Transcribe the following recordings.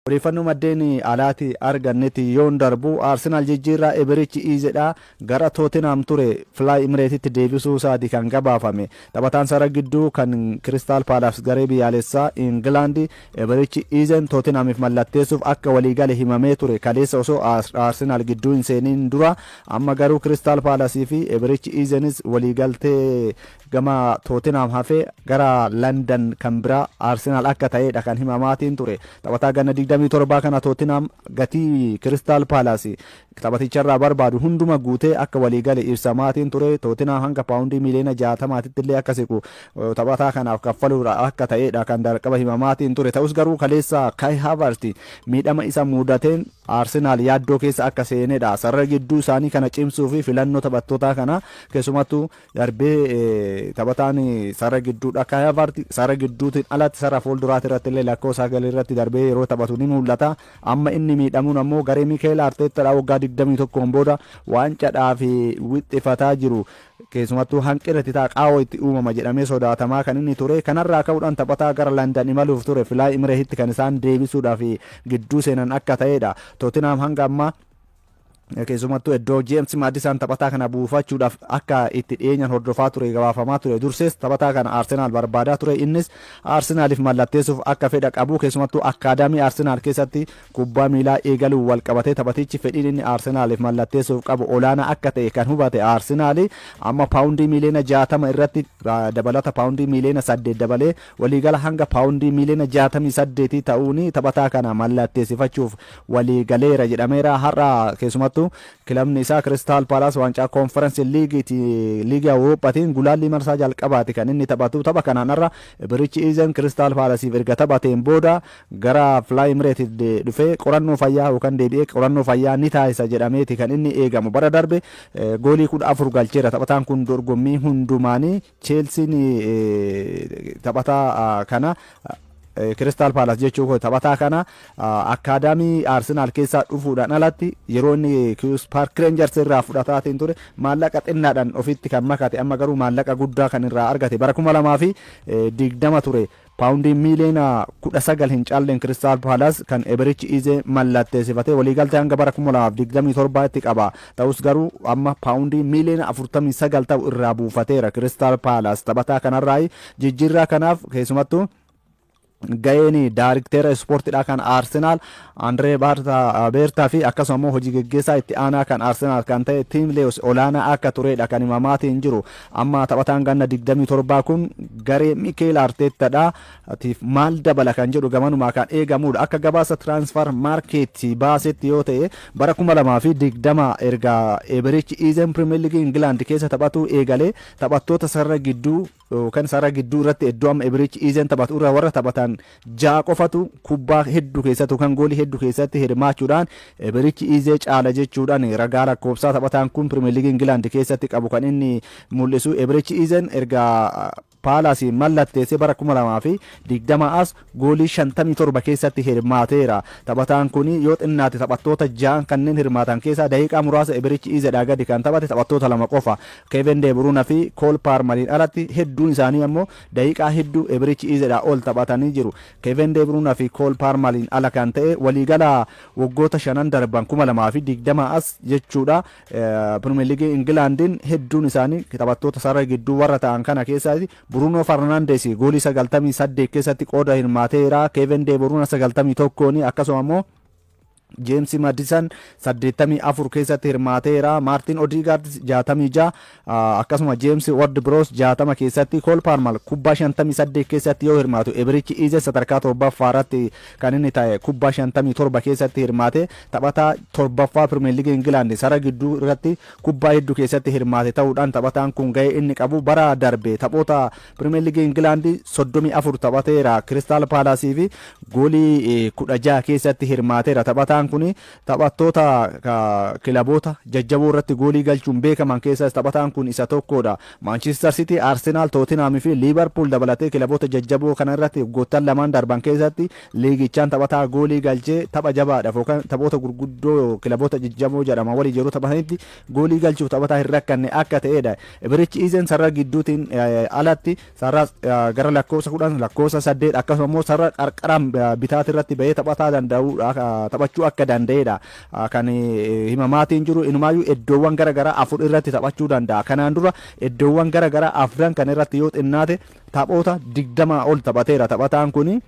Odeeffannoo maddeen alaatii argannetti yoon darbu Arsenaal jijjiirraa Iberichi Iizeedhaa gara Tootenhaam ture Fly Imireetitti deebisuusaati kan gabaafame. Taphataan sarara gidduu kan Kiristaal Paalaas garee biyyaalessaa Ingilaandi Iberichi Iizeen Tootenhaamiif mallatteessuuf akka waliigale himamee ture kaleessa osoo Arsenaal gidduu hin seeniin dura. Amma garuu Kiristaal Paalasiifi Iberichi Iizeenis waliigaltee Gama Tootenhaam hafee gara Landan kan biraa Arsenaal akka ta'eedha kan himamaatiin ture. Taphataa ganna 27 kana Tootenhaam gatii Kiristaal Paalaas taphaticharraa barbaadu hunduma guutee akka walii gale ibsamaatiin ture. Tootenhaam hanga paawundii miiliyoona 60titti illee akka siqu taphataa kanaaf kaffaluudha akka ta'eedha kan darqaba himamaatiin ture. Ta'us garuu kaleessa Kai Havertz miidhama isa muudateen Arsenaal yaaddoo keessa akka seenedha. Sarara gidduu isaanii kana cimsuu fi filannoo taphattootaa kana keessumattuu Darbee taphataan sarara gidduudhaa Kai Havertz sarara gidduutiin alatti sarara fuulduraati irrattillee lakkoo sagal irratti darbee yeroo taphatu ni mul'ata. Amma inni miidhamuun ammoo garee Mikeel Arteettaadhaa waggaa 21n booda waancaadhaaf wixxifataa jiru keessumattuu hanqina itti ta'a qaawwa itti uumama jedhamee sodaatamaa kan inni ture. Kanarraa ka'uudhaan taphataa gara Landan imaluuf ture Filaay Imirehitti kan isaan deebisuudhaaf gidduu seenan akka ta'edha. Tootinhaam hanga ammaa Keessumattuu iddoo Jeemsi Maadisaan taphataa kana buufachuudhaaf akka itti dhiyeenyaan hordofaa ture gabaafamaa ture. Dursees taphataa kana Arsenaal barbaadaa ture. Innis Arsenaaliif mallatteessuuf akka fedha qabu keessumattuu akkaadaamii Arsenaal keessatti kubbaa miilaa eegaluun wal qabatee taphatichi fedhiin inni Arsenaaliif mallatteessuuf qabu olaanaa akka ta'e kan hubate Arsenaal amma paawundii miiliyoona 60 irratti dabalata paawundii miiliyoona 8 dabalee Waliigala hanga paawundii miiliyoona 68 ta'uun taphataa kana mallatteessifachuuf walii galeera jedhameera. Har'a keessumattuu kilabni isaa Kiristaal Paalaas waancaa Koonferensi Liigiiti Liigii Awurooppaatiin gulaallii marsaa jalqabaati kan inni taphatu. Tapha kanaan har'a Birichi Iizen Kiristaal Paalasiif erga taphateen booda gara Fly Emirates dhufee qorannoo fayyaa yookaan deebi'ee qorannoo fayyaa ni taasisa jedhameeti kan inni eegamu. Bara darbe goolii 14 galcheera taphataan kun dorgommii hundumaanii. Cheelsiin taphataa kana Kiristaal Paalaas jechuu koo taphataa kana akkaadaamii Arsenaal keessaa dhufuudhaan alatti yeroo inni Kiwus Paark Reenjarsi irraa fudhataatiin ture maallaqa xinnaadhaan ofitti kan makate amma garuu maallaqa guddaa kan irraa argate bara kuma lamaa fi digdama ture Paawundii miiliyoona kudha sagal hin caalleen Kiristaal Paalas kan Eberichi Ize mallatteessifate waliigaltee hanga bara kuma lamaa fi digdamii torba tti qaba. Ta'us garuu amma paawundii miiliyoona afurtamii sagal ta'u irraa buufateera Kiristaal Paalas. Taphataa kanarraayi jijjiirraa kanaaf keessumattuu ga'een daarikteera ispoortidhaa kan Arsenaal Andree Beertaa fi akkasuma immoo hojii geggeessaa itti aanaa kan Arsenaal kan ta'e Tiim Leewis olaanaa akka tureedha kan himamaatiin jiru. Amma taphataan ganna 27 kun garee Mikeel Arteettadha tiif maal dabala kan jedhu gamanumaa kan eegamudha. Akka gabaasa Transfer Market baasetti yoo ta'e bara 2020 erga Eeberichi Iizeen Pirimeer Liigii Ingilaand keessa taphatuu eegalee taphattoota sarara gidduu yookaan sarara gidduu irratti iddoo amma Eeberichi Iizeen taphatu irra warra taphatan 6 qofatu kubbaa heddu keessatti yookaan goolii heddu keessatti hirmaachuudhaan birichi Iizee caala jechuudhaan ragaa lakkoofsaa taphataan kun Pirimeer Liigii Ingilaand keessatti qabu kan inni mul'isu. Ebirichi Iizeen erga Paalaasiin mallatteessee bara 2020 as goolii 57 keessatti hirmaateera. Taphataan kun yoo xinnaate taphattoota ja'an kanneen hirmaatan keessaa daqiiqaa muraasa Ebirichi Iizeedhaa gadi kan taphate taphattoota lama qofa. Keevin Deeburuuna fi Kool Paarmariin alatti hedduun isaanii ammoo Daqiiqaa hedduu Ebirich Izeedhaa ol taphatanii jiru. Keeven De Bruuna fi Kool Paarmaliin ala kan ta'e waliigala waggoota shanan darban 2020 as jechuudha Pirimeer Liigii Ingilaandiin hedduun isaanii taphattoota sarara gidduu warra ta'an kana keessaati. Buruunoo Farnaandees goolii 98 keessatti qooda hirmaateera. Keeven De Bruuna 91 akkasuma immoo Jeemsi Madisan 84 keessatti hirmaateera. Maartin Odigaard 66 akkasuma Jeemsi Ward Biroos 60 keessatti Kool Paarmal kubbaa 58 keessatti yoo hirmaatu Ebirichi Iize sadarkaa torbaffaa irratti kan inni ta'e kubbaa 57 keessatti hirmaate taphataa torbaffaa Pirimeer Liigii Ingilaandi sara gidduu irratti kubbaa hedduu keessatti hirmaate ta'uudhaan taphataan kun ga'ee inni qabu bara darbe taphoota Pirimeer Liigii Ingilaandi 34 taphateera. Kiristaal Paalaasii fi goolii 16 keessatti hirmaateera. Taphataan kun taphattoota kilaboota jajjaboo irratti goolii galchuun beekaman keessaas taphataan kun isa tokkodha. Maanchiistar Sitii, Arsenaal, Tootinaam fi Liivarpuul dabalatee kilaboota jajjaboo kana irratti waggoottan lamaan darban keessatti liigichaan taphataa goolii galchee tapha jabaadhaaf yookaan taphoota gurguddoo kilaboota jajjaboo jedhaman waliin yeroo taphatanitti Goolii galchuuf taphataa hin rakkanne akka ta'edha. Ibirichi Iizeen sarara gidduutiin alatti sarara gara lakkoofsa 10, lakkoofsa 8 akkasuma immoo sarara qarqaraan bitaatirratti bahee taphataa danda'u taphachuu akka danda'edha. Kan himamaatiin jiru inumaayyuu iddoowwan gara garaa afur irratti taphachuu danda'a. Kanaan dura iddoowwan gara garaa afran kan irratti yoo xinnaate taphoota 20 ol taphateera taphataan kuni.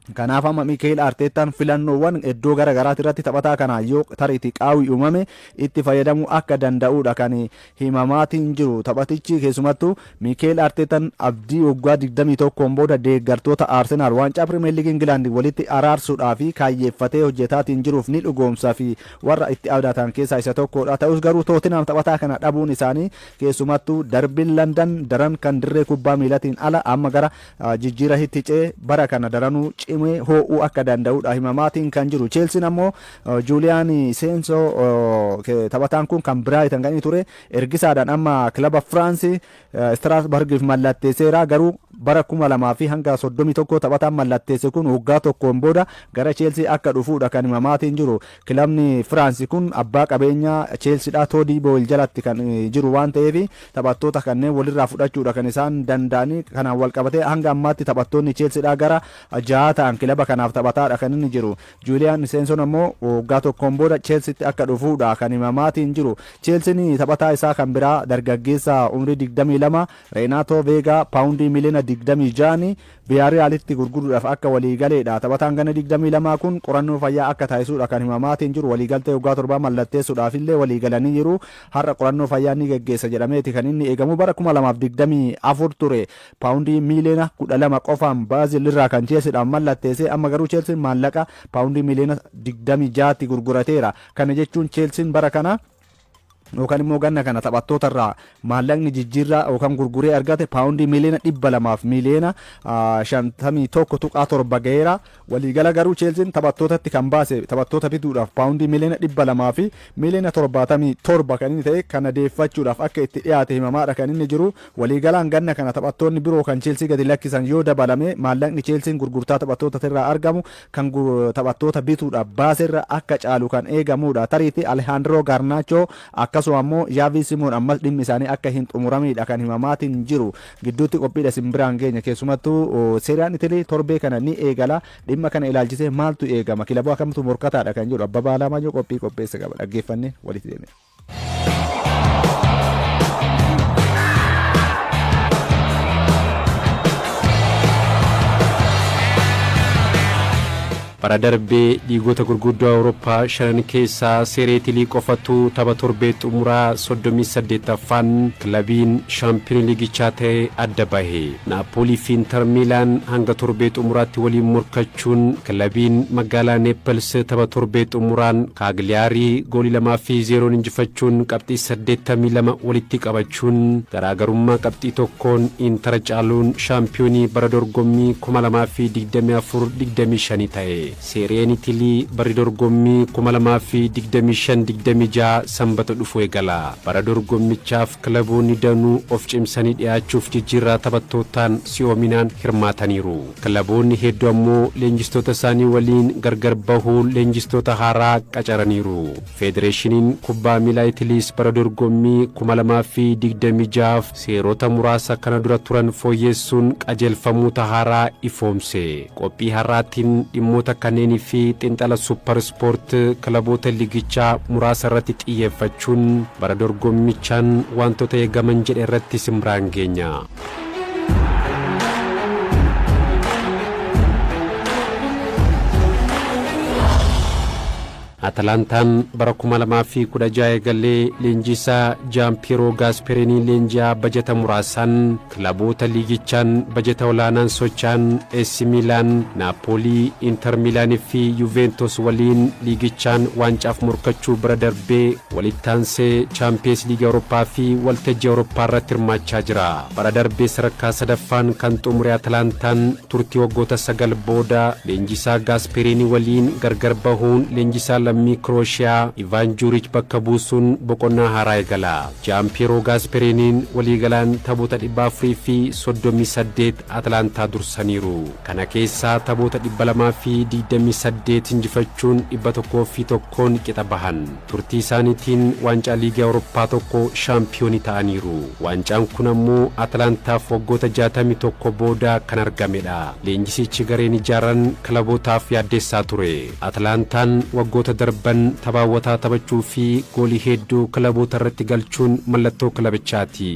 Kanaaf amma Miikeel Arteettaan filannoowwan iddoo gara garaati irratti taphataa kanaa yoo tariitii qaawwi uumame itti fayyadamuu akka danda'uudha kan himamaatiin jiru. Taphatichi keessumattuu Miikeel Arteettaan abdii waggaa 21n booda deeggartoota Arsenaal waancaa Pirimeer Liigii Ingilaand walitti araarsuudhaaf kaayyeeffatee hojjetaatiin jiruuf ni dhugoomsa fi warra itti abdatan keessaa isa tokkoodha. Ta'us garuu Tootinhaam taphataa kana dhabuun isaanii keessumattuu darbiin Landan daran kan dirree kubbaa miilatiin ala amma gara Jijjiira hitti ce bara kana daranuu cimee hoo'uu akka danda'udha himamaatiin kan jiru. Cheelsiin ammoo Juuliyaan Seenso taphataan kun kan Biraayitan kan inni ture ergisaadhaan amma kilaba Firaansi Istiraasbargiif mallatteesseera garuu bara kuma lamaa fi hanga soddomii tokko taphataan mallatteesse kun waggaa tokkoon booda gara Cheelsii akka dhufuudha kan himamaatiin jiru. Kilabni Firaansi kun abbaa qabeenyaa Cheelsidhaa Toodii Booyil jalatti kan jiru waan ta'eef taphattoota kanneen walirraa fudhachuudha kan isaan danda'ani. Kanaan walqabatee hanga ammaatti taphattoonni Cheelsidhaa gara jahaa ta'an kilaba kanaaf taphataadha kan inni jiru. Juuliyaan Iseensoon ammoo waggaa tokkoon booda Cheelsitti akka dhufuudha kan himamaatiin jiru. Cheelsiin taphataa isaa kan biraa dargaggeessa umrii digdamii lama Reenaatoo Veegaa paawundii miliyoona digdamii ja'aan Viyaariyaalitti gurguruudhaaf akka walii galeedha. Taphataan ganna digdamii lama kun qorannoo fayyaa akka taasisuudha kan himamaatiin jiru. Waliigaltee waggaa torbaa mallatteessuudhaafillee walii galanii jiru. Har'a qorannoo fayyaa ni geggeessa jedhameeti kan inni eegamu. Bara kuma lamaa fi digdamii afur ture paawundii miiliyoona kudha lama qofaan Biraazil irraa kan Cheelsiidhaaf mallatteesse. Amma garuu Cheelsiin maallaqa paawundii miiliyoona digdamii ja'atti gurgurateera. Kana jechuun Cheelsiin bara kana. yookaan immoo ganna kana taphattoota irraa maallaqni jijjiirraa yookaan gurguree argate paawundii miiliyoona dhibba lamaaf miiliyoona shantamii tokko tuqaa torba ga'eera. Waliigala garuu Cheelsiin taphattootatti kan baase taphattoota bituudhaaf paawundii miiliyoona dhibba lamaa fi miiliyoona torbaatamii torba kan inni ta'e kana deeffachuudhaaf akka itti dhiyaate himamaadha kan inni jiru. Waliigalaan ganna kana taphattoonni biroo kan Cheelsii gadi lakkisan yoo dabalame maallaqni Cheelsiin gurgurtaa taphattoota irraa argamu kan taphattoota bituudhaaf baaserra akka caalu kan eegamuudha. Tariitti Alehaandiroo Gaarnaachoo akkasuma ammoo Jaavii Simoon ammas dhimmi isaanii akka hin xumuramiidha kan himamaatiin jiru. Gidduutti qophiidha isin biraan geenya keessumattuu Seeriyaan Itilii torbee kana ni eegala. Dhimma kana ilaalchisee maaltu eegama? Kilaboo akkamtu morkataadha kan jedhu Abbabaa Alaamayyoo qophii qopheesse qaba. Dhaggeeffannee walitti deemina. Bara darbe liigota gurguddoo Awurooppaa shanan keessaa Seeree Itilii qofatu tapha torbee xumuraa 38ffaan kilabiin shaampiyoonii liigichaa ta'e adda bahe. Naappoolii fi Intar Miilaan hanga torbee xumuraatti waliin morkachuu chuun kilabiin magaalaa Neepels tapha torbee xumuraan Kaagliyaarii goolii 2 fi 0n injifachuun qabxii 82 walitti qabachuun garaagarummaa qabxii tokkoon Intara caaluun shaampiyoonii bara dorgommii 2024 25 ta'e. Seeriyeen Itilii barri dorgommii 2025 26 Sambata dhufu eegala. Bara dorgommichaaf kilaboonni danuu of cimsanii dhiyaachuuf jijjiirraa taphattootaan si'oominaan hirmaataniiru. Kilaboonni heddu ammoo leenjistoota isaanii waliin gargar bahuun leenjistoota haaraa qacaraniiru. Federeeshiniin Kubbaa Miilaa Itiliis bara dorgommii kuma lamaa fi digdamii ja'aaf seerota muraasa kana dura turan fooyyeessuun qajeelfamoota haaraa ifoomse. Qophii har'aatiin dhimmoota kanneenii fi xinxala Suuppar Ispoort kilaboota liigichaa muraasa irratti xiyyeeffachuun bara dorgommichaan waantota eegaman jedhe irratti isin biraan geenya. Atalantaan bara 2016 eegalee leenjiisaa Jaampiiroo Gaaspeerinii leenji'aa bajata muraasaan kilaboota liigichaan bajata olaanaan socho'an AC Miilaan, Naapoolii, Inter Miilaanii fi Yuuveentos waliin liigichaan waancaaf morkachuu bira darbee Walitti aansee Chaampiyees Liigii Awurooppaa fi waltajjii Awurooppaa irratti hirmaachaa jira. Bara darbe sadarkaa sadaffaan kan xumure Atalantaan turtii waggoota sagal booda leenjisaa Gaaspeeriinii waliin gargar bahuun leenjisaa lammii Kirooshiyaa Ivaan Juuriich bakka buusuun boqonnaa haaraa eegala. Jaanpiyeeroo Gaaspeeriiniin waliigalaan taphoota dhibba afurii fi soddomii saddeet Atlaantaa dursaniiru. Kana keessaa taphoota dhibba lamaa fi digdamii saddeet injifachuun dhibba tokkoo fi tokkoon qixa bahan. Turtii isaaniitiin waancaa Liigii Awurooppaa tokko shaampiyoonii ta'aniiru. Waancaan kun ammoo Atlaantaaf waggoota jaatamii tokko booda kan argamedha. Leenjisichi gareen ijaaran kilabootaaf yaaddessaa ture. Atlaantaan waggoota darban tapha hawwataa taphachuu fi goolii hedduu kilaboota irratti galchuun mallattoo kilabichaati.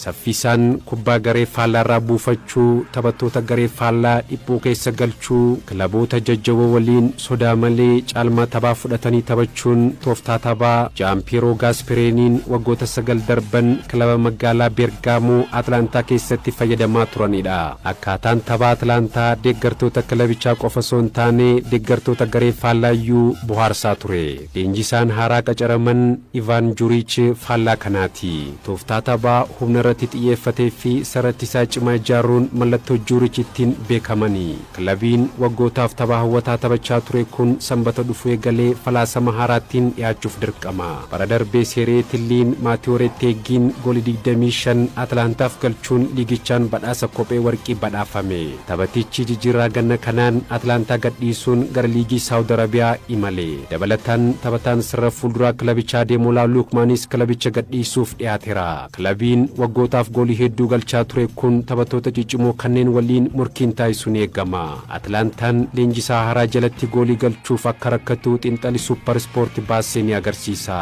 Saffisaan kubbaa garee faallaarraa buufachuu, taphattoota garee faallaa dhiphuu keessa galchuu, kilaboota jajjaboo waliin sodaa malee caalmaa taphaa fudhatanii taphachuun tooftaa taphaa Jaampiiroo Gaaspereeniin waggoota sagal darban kilaba magaalaa Beergaamoo Atlaantaa keessatti fayyadamaa turanidha. Akkaataan tapha Atlaantaa deeggartoota kilabichaa qofa osoo hin taane deeggartoota garee faallaa iyyuu bohaarsaa ture. Leenjisaan haaraa qacaraman Ivaan Juriich faallaa kanaati. Tooftaa taphaa humna irratti xiyyeeffatee fi sarara ittisaa cimaa ijaaruun mallattoo Juriich ittiin beekamani. Kilabiin waggootaaf tapha hawwataa taphachaa ture kun Sanbata dhufu eegalee falaasama haaraattiin dhiyaachuuf dirqama. Bara darbe Seeree Tilliin, Maatiyoo Retteeggiin goolii digdamii shan Atlaantaaf galchuun liigichaan badhaasa kophee warqii badhaafame. Taphatichi jijjiirraa ganna kanaan Atlaantaa gadhiisuun gara liigii Saawud Arabiyaa imale. Dabalataan, taphataan sarara fuulduraa kilabichaa Adeemolaa Luukmaanis kilabicha gadhiisuuf dhiyaatera. Kilabiin waggootaaf goolii hedduu galchaa ture kun taphattoota ciccimoo kanneen waliin morkiin taasisu ni eegama. Atlaantaan leenjisaa haaraa jalatti goolii galchuuf akka rakkatu xinxali Suuppar Ispoorti baasse ni agarsiisa.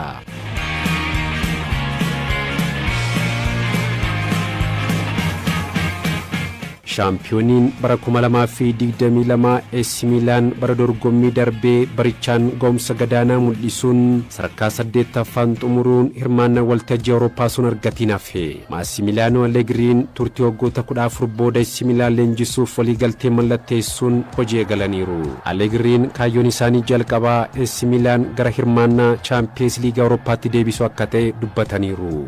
Shaampiyooniin bara kuma lamaa fi digdamii lama AC Miilaan bara dorgommii darbee barichaan ga'umsa gadaanaa mul'isuun sadarkaa saddeettaffaan xumuruun hirmaannaa waltajjii Awurooppaa osoo hin argatiin hafe. Maasimiiliyaanoo Allegriin turtii waggoota kudha afur booda AC Miilaan leenjisuuf waliigaltee mallatteessuun hojii eegalaniiru. Allegriin kaayyoon isaanii jalqabaa AC Miilaan gara hirmaannaa Chaampiyeens Liigii Awurooppaatti deebisuu akka ta'e dubbataniiru.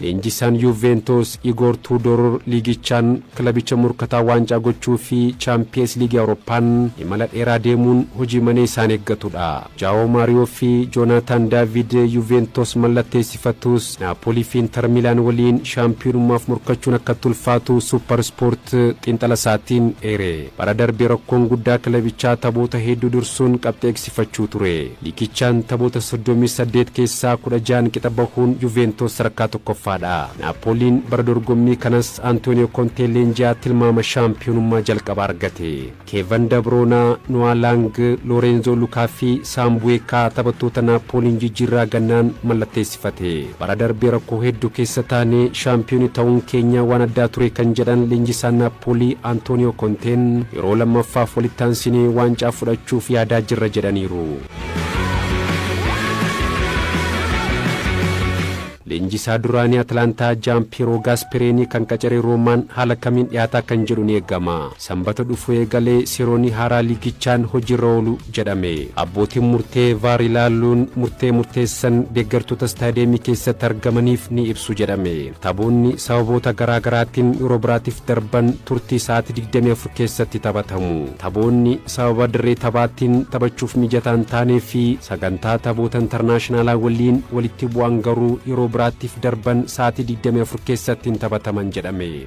Leenjisaan Yuuveentoos Igoor Tuudoor liigichaan kilabicha morkataa waancaa gochuu fi Chaampiyees Liigii Awurooppaan imala dheeraa deemuun hojii manee isaan eeggatudha. Jaawoo Maariyoo fi Joonaataan Daaviid Yuuveentoos mallatteessifatus Naapoolii fi Intar Miilaan waliin shaampiyoonummaaf morkachuun akkatti ulfaatu Suupar Ispoort xiinxala isaatiin eere. Bara darbe rakkoon guddaa kilabichaa taphoota hedduu dursuun qabxii eegsifachuu ture. Liigichaan taphoota soddomii saddeet keessaa kudha ja'an qixa bahuun Yuveentoos sadarkaa tokkoffaadha. Naapooliin bara dorgommii kanas Antooniyoo Kontee leenji'aa tilmaama shaampiyoonummaa jalqabaa argate. Keevan Dabroonaa, Noah Lang, Loorenzoo Lukaa fi Saam Buweekaa taphattoota Naappooliin jijjiirraa gannaan mallatteessifate. Bara darbe rakkoo hedduu keessa taanee shaampiyooni ta'uun keenya waan addaa ture kan jedhan leenjisaan Naappoolii Antooniyoo Konteen yeroo lammaffaaf walitti aansinee waancaa fudhachuuf yaadaa jirra jedhaniiru. Leenjisaa duraanii Atlaantaa Jaan Piyeeroo Gaaspereenii kan qacare Roomaan haala kamiin dhiyaataa kan jedhu ni eegama. Sanbata dhufu eegalee seeronni haaraa liigichaan hojiirra oolu jedhame. Abbootiin murtee Vaar ilaaluun murtee murteessan deeggartoota istaadiyeemii keessatti argamaniif ni ibsu jedhame. Taphoonni sababoota garaa garaatiin yeroo biraatiif darban turtii sa'aatii digdamii afur keessatti taphatamu. Taphoonni sababa dirree taphaatiin taphachuuf mijataa hin taanee fi sagantaa taphoota intarnaashinaalaa waliin walitti bu'an garuu yeroo biraattiif darban sa'aatii digdamii afur keessatti hin taphataman jedhame.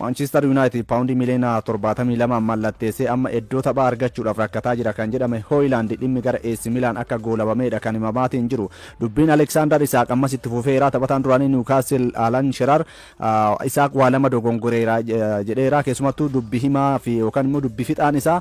Maanchiistar Yuunaayitid paawundii miliyoona torbaatamii lama mallatteessee amma eddoo taphaa argachuudhaaf rakkataa jira kan jedhame Hooyilaand dhimmi gara AC Milaan akka goolabameedha kan himamaatiin jiru. Dubbiin Aleksaandar Isaaq ammas itti fufeera. Taphataan duraanii Niwukaastil Alan Sheraar Isaaq waa lama dogongoreera jedheera. Keessumattuu dubbi himaa fi yookaan immoo dubbi fixaan isaa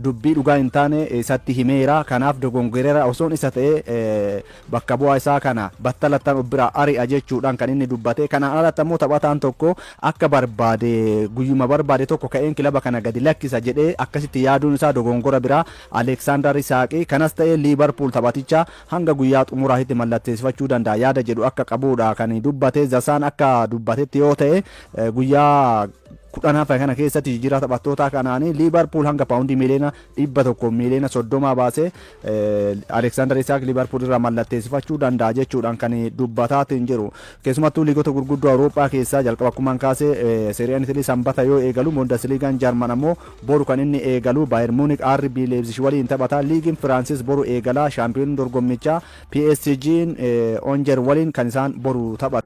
dubbii dhugaa hin taane isatti himeera. Kanaaf dogongoreera osoon isa ta'ee Bakka bu'aa isaa kana battalattan of biraa ari'a jechuudhaan kan inni dubbate. Kanaan alatti ammoo taphataan tokko akka barbaade guyyuma barbaade tokko ka'een kilaba kana gadi lakkisa jedhee akkasitti yaaduun isaa dogongora biraa Aleeksaandar Isaaqi kanas ta'ee Liivarpuul taphaticha hanga guyyaa xumuraatitti mallatteessifachuu danda'a yaada jedhu akka qabuudha kan dubbate. The Sun akka dubbatetti yoo ta'e guyyaa kudhan hafe kana keessatti jijjiirraa taphattootaa kanaan Liivarpuul hanga paawundii miiliyoona dhibba tokko miiliyoona soddomaa baasee Aleksaandar Isaak Liivarpuul irraa mallatteessifachuu danda'a jechuudhaan kan dubbataatiin jiru. Keessumattuu liigota gurguddoo Awurooppaa keessaa jalqaba akkumaan kaase Seeriyaan Itilii Sanbata yoo eegalu Bundesliigaan Jarman ammoo boru kan inni eegalu Baayer Muunik RB Leebzish waliin taphata. Liigiin Firaansis boru eegala. Shaampiyooniin dorgommichaa PSG'n Onjer waliin kan isaan boru taphatu.